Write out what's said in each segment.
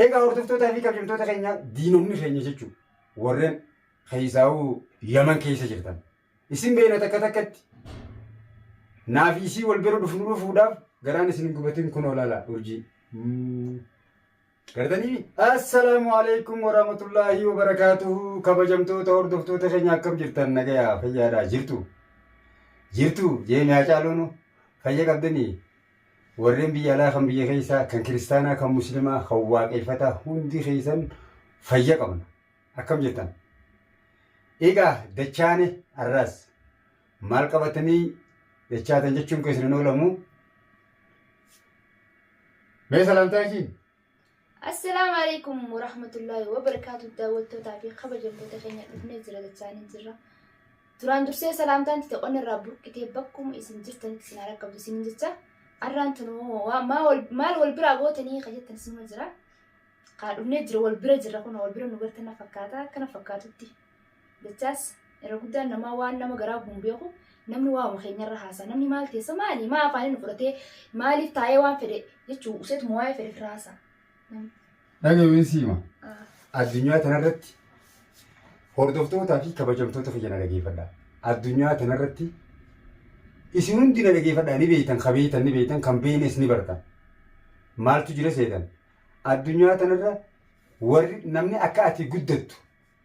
Egaa hordoftootaa fi kabajamtoota keenya diinonni keenya jechuun warreen keessaa'uu Yaman keessa jirtan. Isin beena takka takkatti naa fi isii wal bira dhufnu dhufuudhaaf garaan isin hin gubatin kun olaala urjii. Gartanii? Assalaamu alaikum warahmatullaahi wabarakaatuhu kabajamtoota hordoftoota keenya akkam jirtan nagayaa fayyaadhaa jirtu. Jirtu jeemee hacaaluunu fayya qabdanii Warreen biyya alaa kan biyya keessaa, kan kiristaanaa, kan muslimaa, kan waaqeeffataa hundi keessan fayya qabna. Akkam jirtan? Egaa dachaane arraas maal qabatanii dachaatan jechuun keessan hin oolamu. Mee salaamtaa isiin? Assalaamu alaikum warahmatullaahi wabarakaatu daawwattootaa fi kabajamtoota keenya dhufnee jira dachaanii jirra. Duraan dursee salaamtaan tite qonna irraa burqitee bakkuma isin jirtanitti isin haa rakkabdu isin jecha arraan tanu waa- maa wal- maal wal biraa gootanii ka jettan isinuma jira. Kaa dhufnee jira wal bira jirra kun wal bira nu gartan na fakkaata akkana fakkaatutti. Dachaas irra guddaan namaa waan nama garaa gubu hin beeku. Namni waa'uma keenyarra haasa'a. Namni maal teessa maali? Maa afaaniin nu fudhatee maaliif taa'ee waan fedhe jechuu useetu moo waa'ee fedhe firraa haasa'a. Namni. Dhaga'uun siima. Ah. Addunyaa tanarratti hordoftootaa fi kabajamtoota kiyya na dhageeffadha. Addunyaa tanarratti isin hundi na dhageeffadha ni beektan ka beektan ni beektan kan beeknes ni bartan. Maaltu jira seetan? Addunyaa tanarra warri namni akka ati guddattu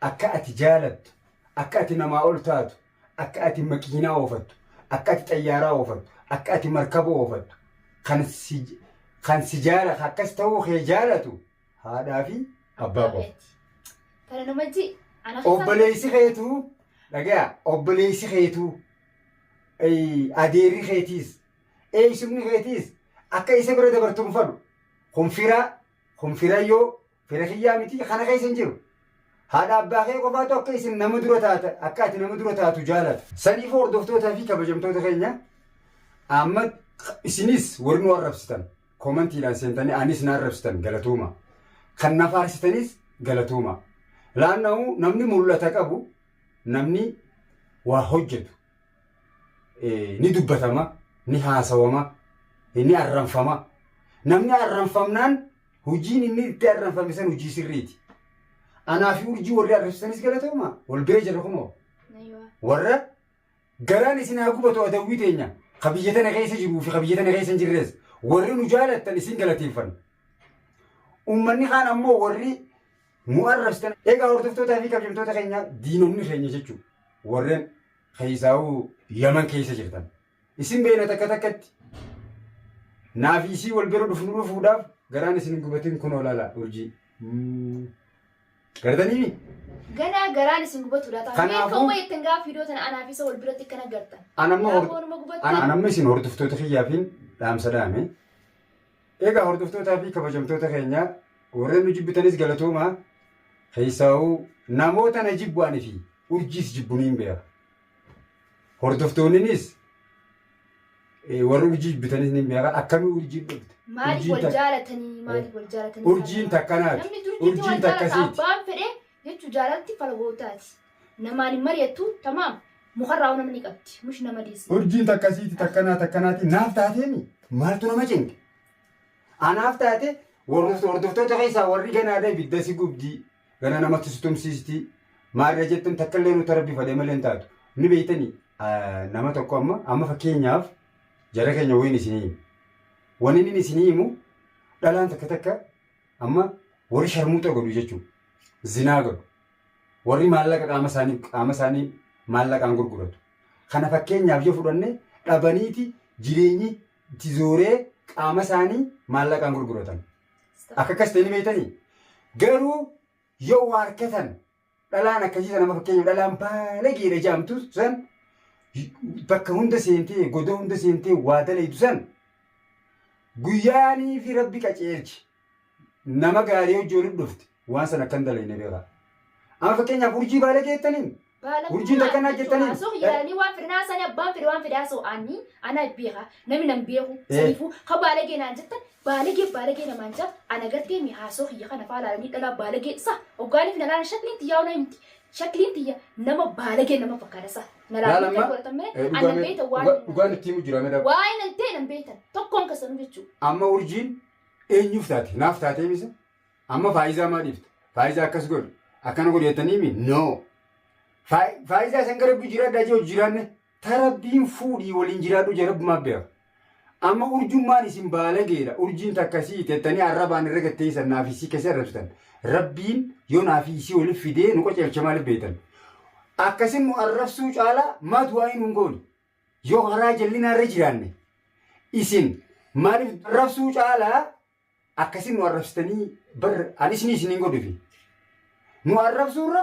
Akka ati jaalattu, akka ati namaa ol taatu, akka ati makiinaa oofattu, akka ati xayyaaraa oofattu, akka ati markaba oofattu, kan si, kan si jaala, kan akkas ta'uu kee jaalatu haadhaa fi abbaa qofa. Abeeti. Kana nama ji ana keessaa Obboleessi keetu, dhagaya, obboleessi keetu, eh, adeerri keetiis, eessumni keetiis akka isa bira dabartu hin fadhu. Kun fira, kun firayyoo, Fira kiyyaa miti kana keessa hin jiru. Haadha abbaa kee qofaatu akka isin nama dura taata akka ati nama dura taatu jaalata. Saniif hordoftootaa fi kabajamtoota keenya amma isinis warri nu arrabsitan komantiidhaan seentanii anis na arrabsitan galatooma. Kan na faarsitanis galatooma. Laanna'u namni mul'ata qabu namni waa hojjetu. ni dubbatama, ni haasawama, ni arranfama. Namni arranfamnaan hojiin inni itti arranfame san hojii sirriiti. Anaa fi urjii warri arrabsitanis galatooma wal bira jirra kunoo. Warra garaan isin haa gubatu adawwii teenya ka biyya tana keessa jiruu fi ka biyya tana keessa hin jirres warri nu jaalattan isin galateeffanna. Uummanni kaan ammoo warri nu arrabsitan egaa hordoftootaa fi kabjamtoota keenya diinonni keenya jechuun warreen keessaa'uu yaman keessa jirtan isin beena takka takkatti naaf isii wal bira dhufnu dhufuudhaaf garaan isin gubatin kun olaala urjii gartanii Ganaa garaan isin gubatu laata. Kanaafuu- Kanaafuu. Meeqa wayii ittiin gaafa fiidoo tana anaaf isa wal biratti kana gartan. Anamma Gaafa hor- wanuma gubatu. anamma isin hordoftoota kiyyaafiin dhaamsa dhaame Egaa hordoftootaa fi kabajamtoota keenya warreen nu jibbitanis galatoomaa keessaa'uu namoota na jibbu ani fi urjiis jibbu niin beeka. Hordoftoonninis eh, warri urjii jibbitanis niin beeka akkamii urjiin dhufte. Maaliif Urjiin wal tak- jaalatanii maaliif wal jaalatanii Urjiin takkanaati. Namni durjiitti Urjiin wal jaalata takkasiiti. abbaan fedhe jechu jaalalti fala goowtaati namaan hin mariyattu tamaam mukarraa hoo nama ni qabdi mush nama diisi. Urjiin takkasiiti takkanaa takkanaatiin naaf taateemi maaltu nama cinqe anaaf taate warruftu hordoftoota keessaa warri ganaadha ibidda si gubdii gana namatti si tumsiistii maarra jettan takkallee nuti rabbi fadhe malee hin taatu ni beeytani nama tokko amma amma fakkeenyaaf jara keenya wayiin isinii himu waniin inni isinii himu dhalaan takka takka Amma warri sharmuuxa godhu jechuun zinaa godhu. Warri maallaqa qaama isaanii qaama isaanii maallaqaan gurguratu. Kana fakkeenyaaf yoo fudhanne dhabaniiti jireenyi itti zooree qaama isaanii maallaqaan gurguratan. Akka akkas ta'e ni beektanii? Garuu yoo waa argatan Dhalaan akkasii sana amma fakkeenyaaf dhalaan baalageedha jaamtu san bakka hunda seentee godoo hunda seentee waa dalaydu san guyyaanii fi rabbi qaceelchi nama gaarii hojii walitti dhufte waan san akkan dalayne beekaa. Amma fakkeenyaaf urjii baalagee jettaniin urjiin takka naa jettaniin Asoo yaani waan fedhe naa sani abbaan fedhe waan fedhe asoo ani ana beeka namni nan beeku Eh. saniifuu ka baalagee naan jettan Baalagee baalagee namaan jaa ana gartee mi haasoo kiyya kana faa laalanii dhalaa baalagee sa oggaaniif na laalan shakliin tiyyaa ona himti shakliin tiyya nama baalagee nama fakkaata sa na Laal laalan amma kan godhatan mee eh, dhugaa anan mee- beeyta waan dhugaa- hin dhugaan itti himu jira mee daawwa. waa'ee nan ta'e nan beeytan tokkoon kasanuu jechuu Amma urjiin eenyuuf taate naaf taatee misa amma faayizaa maa dhiifta faayizaa akkas godhe akkana godhe jettanii mi no faayizaa isan gara biyya jiraadhaa jee hojii jiraanne Ta rabbiin fuudhii waliin jiraadhu je rabbumaa beeka. Amma urjummaan isin baalageedha urjiin takka si ixettanii arrabaan irra gatteessan naaf isii kessa arrabsitan rabbiin yoo naafii isii waliif fidee nu qaceelcha maaliif beektan akkasin nu arrabsuu caala maa du'aa'ii nuun goone yoo karaa jallinaa irra jiraanne isin maaliif arrabsuu caalaa Akkasiin nu arrabsitanii bar an isinii isiniin godhufi. Nu arrabsuurra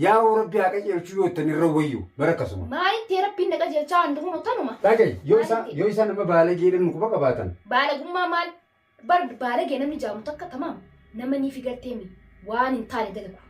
yaa'oo rabbi haa qajeelchuu yoo ittan irra wayyu bar akkasuma. Maalitti rabbiin na qajeelchaa waan dhufu nu tanuma. Dhagayi yoo isaa Maalitti? yoo isaa nama baalageedhan nu quba qabaatan. Baalagummaa maal bar baalagee namni jaamu takka tamaam nama ni figarteemi waan hin taane dalagu.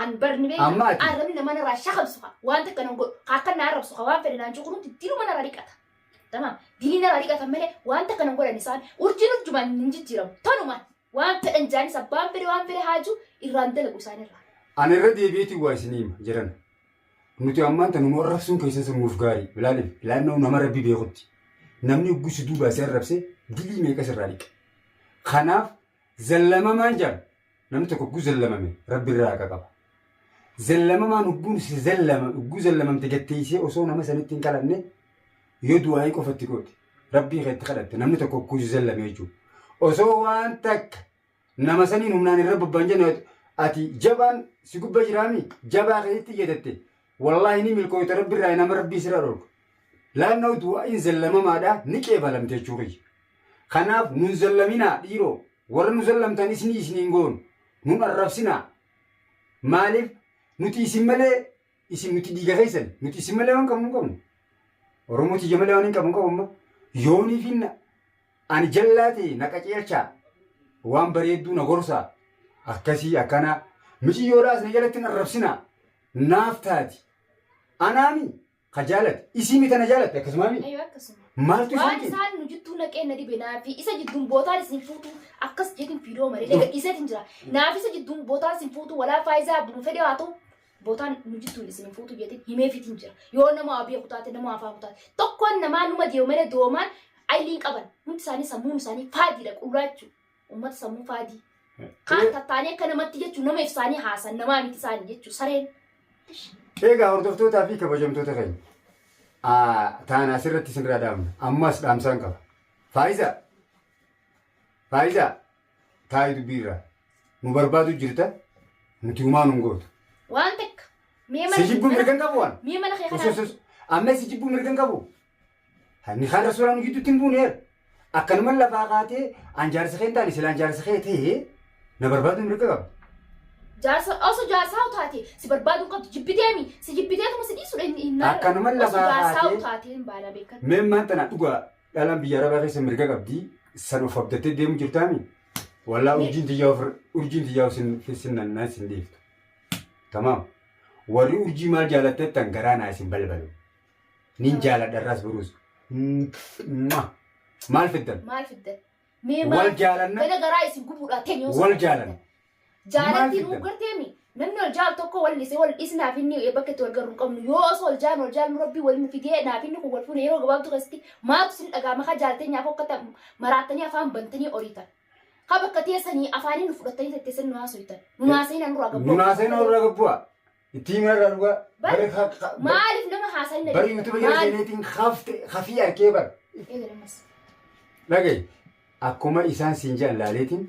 An barni beekaa Amma ati- arrabni nama narraa shakamsu haa waan takka nan godhu haa akka na arrabsu haa waan fedhe naan jiru kunumti diluma narraa dhiqata. Tamaam dilii narraa dhiqata malee waan takka nan godhan isaan urjiin urjumaan hin jijjiiramu tanumaan waan fedhan jaanis abbaan fedhe waan fedhe haaju irraan dalagu isaan irraa. Ani irra deebi'eeti waa isin hima jiran. Nuti ammaan tanu nu arrabsuun keessan sun nuuf gaarii. Ilaalim laannoo nama rabbi beekutti. Namni oggusu duubaa si arrabse dilii meeqa sirraa dhiqa. Kanaaf Zallamamaan jedhan namni tokko ugguu zallamame rabbi irraa haqa qaba. Zallamamaan ugguun si zallama ugguu zallamamte gatteessee osoo nama sanitti hin kadhanne yoo du'aa'ii qofa itti goote rabbii kee itti kadhatte namni tokko ugguu si zallame jechuudha. Osoo waan takka nama saniin humnaan irra bobbaan jenne ati jabaan si gubba jiraami jabaa keetti iyyatatte Wallaahi ni milkooyta rabbirraa nama rabbii sirra dhorga. Laannaw du'aa'iin zallamamaadha ni qeebalamti jechuu kiyya. Kanaaf nun zallaminaa dhiiroo warra nu zallamtan isnii isniin goonu nun arrabsinaa. Maaliif nuti isin malee isin nuti dhiiga keessan nuti isin malee waan qabnu hin qabnu. Oromoo tiyya malee waan hin qabnu qabu amma yoonii fi na- ani jallaa ta'e na qaceelchaa waan bareedduu na gorsaa akkasii akkanaa miciyyoodhaa isin jalatti hin arrabsinaa. naaf taati. Anaami ka jaalate isiimi tana jaalatte akkasumaami? Ayuu akkasuma. Maaltu isaan Waan cinqe? isaan nu jidduu naqee na dhibe naafi isa jidduun bootaan isin fuutuu akkas jeetiin fiidoo malee na gadhiiseetiin jira. Naafi isa jidduun bootaan isin fuutuu walaa faayizaa abbuma fedhe haa ta'u bootaan nu jidduun isin hin fuutuu jeetiin himeefiitiin jira. Yoo nama waa beeku taate nama afaa kutaate tokkoon namaa numa deemu malee doomaan ayiliin qaban hundi isaanii sammuun isaanii faadiidha qullaachuu. Uummata sammuu faadii. Kaan tattaanii akka namatti jechuun nama ibsaanii haasan namaa miti isaanii jechuun sareen. Eegaa hordoftootaa fi kabajamtoota keenya. Aa, Taana asirratti isinirraa dhaamna. Ammas dhaamsaan qaba. Faayizaa! Faayizaa! Taa'ii dubbiirraa. Nu barbaadu jirta. Nuti humaa nun gootu. Waan takka. Mee mana Si jibbuu mirgan qabu waan? Mee mana kee Sus, kanaa. sus, sus. Amma si jibbuu mirgan qabu? Hanni kaan rasuulaa nu jidduutti hin buune bar. Akkanuman lafaa kaatee an jaarsa kee hin taane silaan jaarsa kee ta'ee na barbaaduu mirga qaba. Jaarsa osoo jaarsaa utaate si barbaaduu hin qabdu jibbiteemi si jibbiteetuma si dhiisudha inni hin maarre. Akkanuman Osoo lafaa jaarsaa kaatee- utaateen baala beekatti. Mee maan tanaa dhugaa dhalaan biyya arabaa keessa mirga qabdi san of abdattee deemu jirtaami. Wallaa Mee- urjiin tiyyaa ofirra urjiin tiyyaa sin sin nannaa sin dhiiftu. Tamaam. Warri urjii maal jaalattettan garaa naa isin balbalu. Nin jaaladha irraas boruus. Maal fiddan? Maal fiddan? Mee Wal maal fiddan? jaalanna. Gana garaa isin gubuudha teenyoo Wal sana jaalanna. fiddan. Jaalattiin Maal uu fiddan? garteemi. Namni wal jaalu tokko wal dhise wal dhisnaaf inni bakka itti wal garru hin qabnu. Yoo osoo wal jaallu wal jaallu rabbii wal fidee naaf inni kun wal fuune yeroo gabaabduu keessatti maaltu isin dhagaama ka jaalteenyaaf hokkata maraattanii afaan bantanii oriitan. Ka bakka teessanii afaaniin nu fudhattanii tettessan nu haasoytan. Nu naaseenaa nurraa gabboo. Nunaasee noorra gabbu'a. Itti hima irraa dhugaa. Bar- Bari ha- ha- bar- Maaliif nama haasa'ina bari jirta? YouTube jala Maaliif? seeneetiin hafte hafii arkee bar. Eegali ammas. Dhaga'i. Akkuma isaan siin jedhan laaleetiin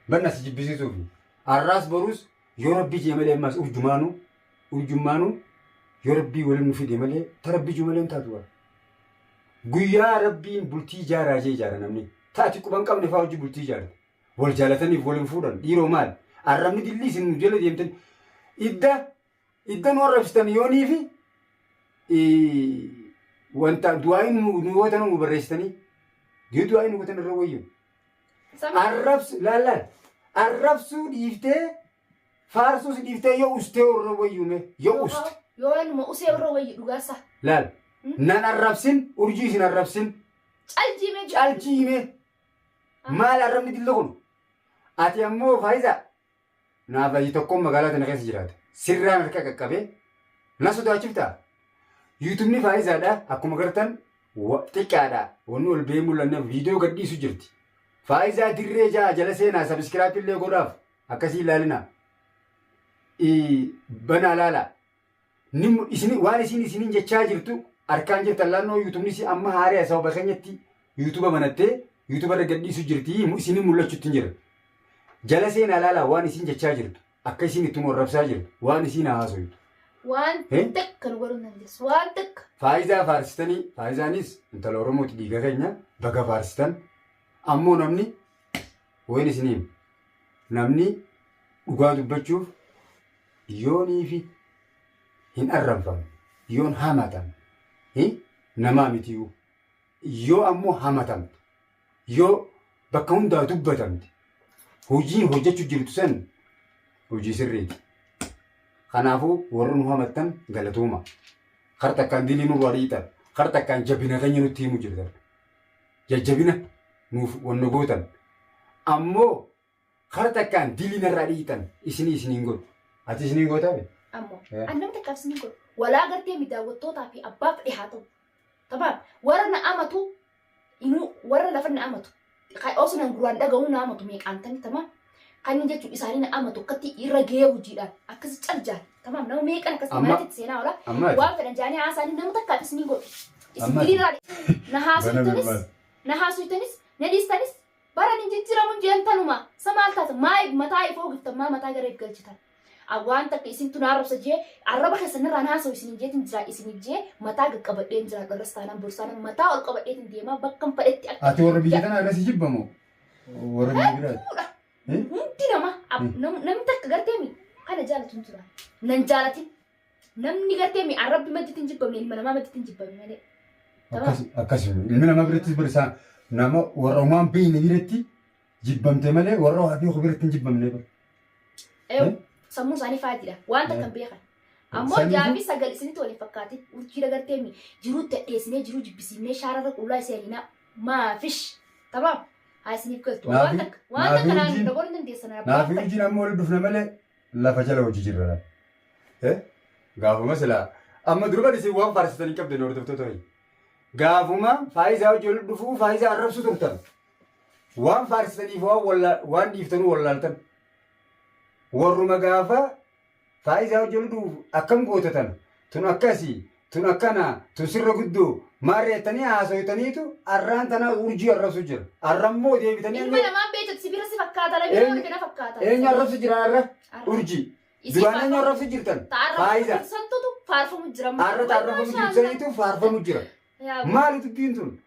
barna si jibbisiisuuf. Arraas boruus yoo rabbii jee malee ammaas urjumaanuu urjummaanuu yoo rabbii waliin nu fide malee ta rabbii juu malee hin taatu bar. Guyyaa rabbiin bultii ijaaraa jee ijaara namni. Taati quban qabne faa hojii bultii ijaarti. wal jaalataniif wal hin fuudhan dhiiroo maali arrabni dillii isin nu jala deemtani idda idda nu arrabsitan yoonii fi wanta du'aayi nu nu yoo tana nu barreessitanii yoo du'aayi nu gotan irra wayyu arrabsu laallaan arrabsuu dhiiftee faarsuus dhiiftee yoo ustee irra wayyume yoo uste Yoo waanuma usee irra wayyi dhugaasa. laal nan arrabsin urjii isin arrabsin Caljiimee jira. caljiime Maal arrabni dilli kun? Ati ammoo Faayizaa naaf laayyi tokkoon magaalaa tana keessa jiraata. Sirraan harka qaqqabee na sodaachiftaa? Yuutubni Faayizaadha akkuma gartan xiqqaadha. Wanni ol ba'ee mul'anneef viidiyoo gadhiisu jirti. Faayizaa dirree ja'a jala seenaa sabiskiraappi illee godhaaf akkasii ilaalina. Banaa laala. Nim- isini- waan isiin isiniin jechaa jirtu harkaan jirtan laannoo yuutubni isii amma haaree sababa keenyatti yuutuba banattee yuutuba irra gadhiisu jirti mu- isiniin mul'achuutti hin jira jala seenaa laalaa waan isiin jechaa jirtu akka isiin itti nu arrabsaa jirtu waan isiin haasoytu Waan Eh? takka nu godhuu hin dandeessu. Waan takka. faayizaa faarsitanii faayizaanis intala oromooti dhiiga keenya baga faarsitan ammoo namni Wayin isinii hima. Namni dhugaa dubbachuuf yooniifi hin arranfamu, yoon hamatamu, hi, namaa mitiyuu. Yoo ammoo hamatamte, yoo bakka hundaa dubbatamte, hojiin hojjechu jirtu san hojii sirriiti. Kanaafuu warri nu hamattan galatooma. Kar takkaan dilii nurraa dhiitan, kar takkaan jabina keenya nutti himu jirtan. jajjabina nuuf wanno gootan ammo kara takkaan dilii narraa dhiitan isinii isiniin godhu. Ati isiniin gootaa be? Ammoo Eh. an nama takkaan isiniin godhu. Walaa gartee mi daawwattootaa fi abbaa fedhe haa ta'u. Tabaam warra na amatu inuu warra lafa na amatu. Ka- Osoo nan guraan dhaga'uu na amatu meeqaantanii tamaa Kanni jechuun isaanii na ama tokkotti irra gahee hojiidhaan akkasi cal jaan. Tamaam nama meeqan akkasi Amma- maratti itti seenaa oola. amma ati- Waan fedhan jaanii haasaanii nama takka akkas ni godhu. Isin Amma ati- biliirraa na haasoftanis Banamilmaan. na haasoftanis na dhiistanis baran hin jijjiiramu hin jeen tanuma. Sa maal taata maa mataa if oogiftan maa mataa gara if galchitan. A- Waan takka isintu na arrabsa jee arraba keessan irraan haasa'u isin hin jeetin jira isiniif jee mataa gaqqabadheen jira dharras taanaan borsaanaan mataa ol qabadheetin deemaa bakkan fedhetti akka Ati warra biyya tanaa irra si jibbamoo? Warra biyya biraati. Fuudha. Hundi nama ab- nam- namni takka gartee mi kana jaalatu hin jira. Nan jaalatin. Namni gartee mi arrabbi madditti hin jibbamne ilma namaa madditti hin jibbame malee. Tamam. Akkas akkas miti. Ilmi namaa birattis bari isaan nama warra umaan beeyne biratti jibbamte malee warra waa beeku biratti hin jibbamne bari. Eew, Eh? sammuun isaanii faadiidha. Waan takka Eh. hin beekan. Ammoo Samiitu- jaafi sagal isinitti waliin fakkaatin urjiidha gartee mi jiruu tadheessinee jiruu jibbisiifnee shaararra qullaa isa yalinaa. maafish tamam haa isiniif galtu waan Naafi- takka waan naafi takka naan wajjin- na godhuu dandeessan Naa fi abbaan wajjin amma walitti dhufna malee lafa jala hojii jirra laal. Eh? Gaafuma silaa amma durban isin waan faarsitan hin qabdan hordoftoota wayii. Gaafuma faayisaa hojii walitti dhufuu faayisaa arrabsu turtan. Waan faarsitaniif waan walla- waan dhiiftanuu wallaaltan. Warruma gaafa Faaizaa hojja luduuf akkam goota tana? Tun akkasi, tun akkana, tun sirra guddoo, maarre jettanii haasoytaniitu arraan tana urjii arrabsu jira. Arra immoo deebitanii Ilma eenyu namaan beeytatu si bira si fakkaata na bira eenyu warri na fakkaata. eenyu Sanyii. arrabsu jiran arra? Arra. Urjii. Isiin Duraan eenyu faarfamu- arrabsu jirtan? Ta arrafamu Faaizaa. jirtu santutu faarfamu jira. amma. Arra ta Wallahi arrafamu jirtu mashallah. saniitu faarfamu jira. Yaa guddoo. Maali dubbiin tun?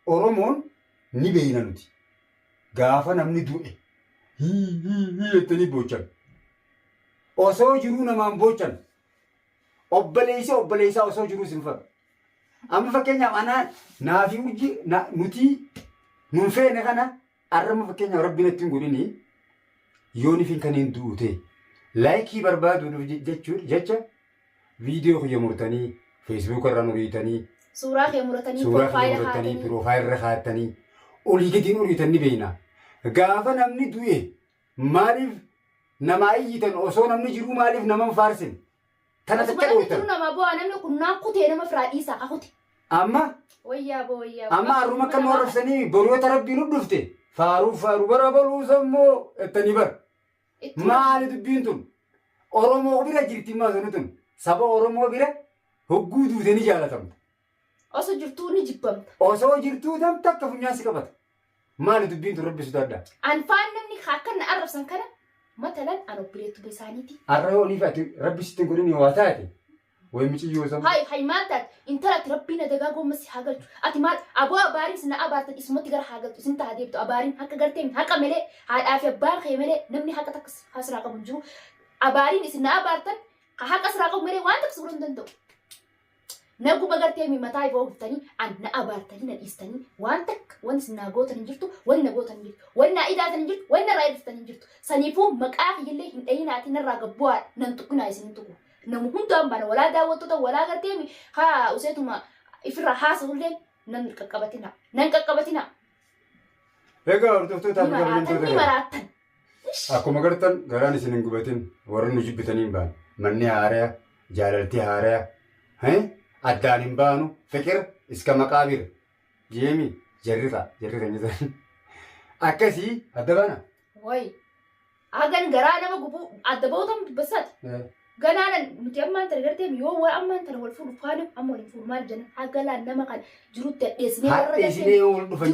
Oromoon ni beeyna nuti. Gaafa namni du'e hii hii hii jettanii boochan. Osoo jiruu namaan boochan. Obboleessi obboleessaa osoo jiruu si rifatu. Amma fakkeenyaaf anaa naafi urji na- nutii nun feene kana arrama fakkeenyaaf rabbi natti hin godhini yoonifin kan hin du'u ta'e laayikii barbaaduudhuuf je- jechuun jecha viidiyoo kiyya murtanii feesbuuka irraan uriitanii Suuraa kee muratanii suuraa kiyya piroofaayila murtanii kaatanii. piroofaayila irra kaatanii olii gadiin uriitan ni beeyna. Gaafa namni du'e Maaliif namaa iyyitan osoo namni jiruu maaliif nama hin faarsine? Tana Osuma jecha namni jiru dhooftan. namaa boo'a namni kun naan kutee nama firaa dhiisaa ka kute. Amma Wayyaa boo wayyaa boo. amma arruma akka nu arrabsanii boru yoo ta rabbiin nu dhufte faaruu faaruu bara boluu sammoo ettanii bar. Itti Maali dubbiin tun? Oromoo bira jirti maasoni tun. Saba Oromoo bira hogguu duute ni jaalatamta. Oso jirtuu ni jibbamta. Osoo jirtuu tam takka funyaan si qabata. Maali dubbiin tun rabbi sodaadha. An faan namni ka akkan na arrabsan kana matalan an obboleettuma isaaniiti. Arra yoo nifa ati rabbi sitti hin godhini waa taate. Way miciyyoo sabu. Hay hay maal taate intala ati rabbiin adagaa goomma si haa galchu. Ati maal aboo abaariin isin na abaartan isumatti gara haa galtu isin taha deebtu abaariin haqa gartee mi haqa malee haadhaa fi abbaan kee malee namni haqa takka si- haa siraa qabu hin jiru. Abaariin isin na abaartan ka haqa siraa qabu malee waan takka si godhuu hin danda'u. Na guba gartee mi mataa ifoo guftanii an na abaartanii na dhiistanii waan takka wanti isin naa gootan hin jirtu wani na gootan hin jirtu wani naa idaatan hin jirtu wani narraa irdiftan hin jirtu saniifuu maqaa kiyyallee hin dhayinaatii narraa gad bu'aa nan tuqinaa isin hin tuqu namu hundaan baana walaa daawwattota walaa gartee mi haa useetuma ifirraa haasa'ulleen nan qaqqabatinaa nan qaqqabatinaa Egaa hordoftoota ni fi maraatan kabajamtoota ni kana. maraatan Akkuma gartan garaan isin hin gubatin warri nu jibbitanii hin baane. Manni haaraya, jaalalti haaraya. Hee? Addaan hin baanu. Fiqir iska maqaabir. Jeemi jarri kaa jarri kan jedhan. Akkasii adda baana. Wayi. Hagan garaa nama gubu adda bootam dubbasati. Eh, Ganaana nuti ammaan tana gartee yoo waa ammaan tana wal fuudhu faana amma wal hin fuudhu maal jenna hagalaan nama kana jirutti addeessinee warra Hadha gartee isinee wal dhufan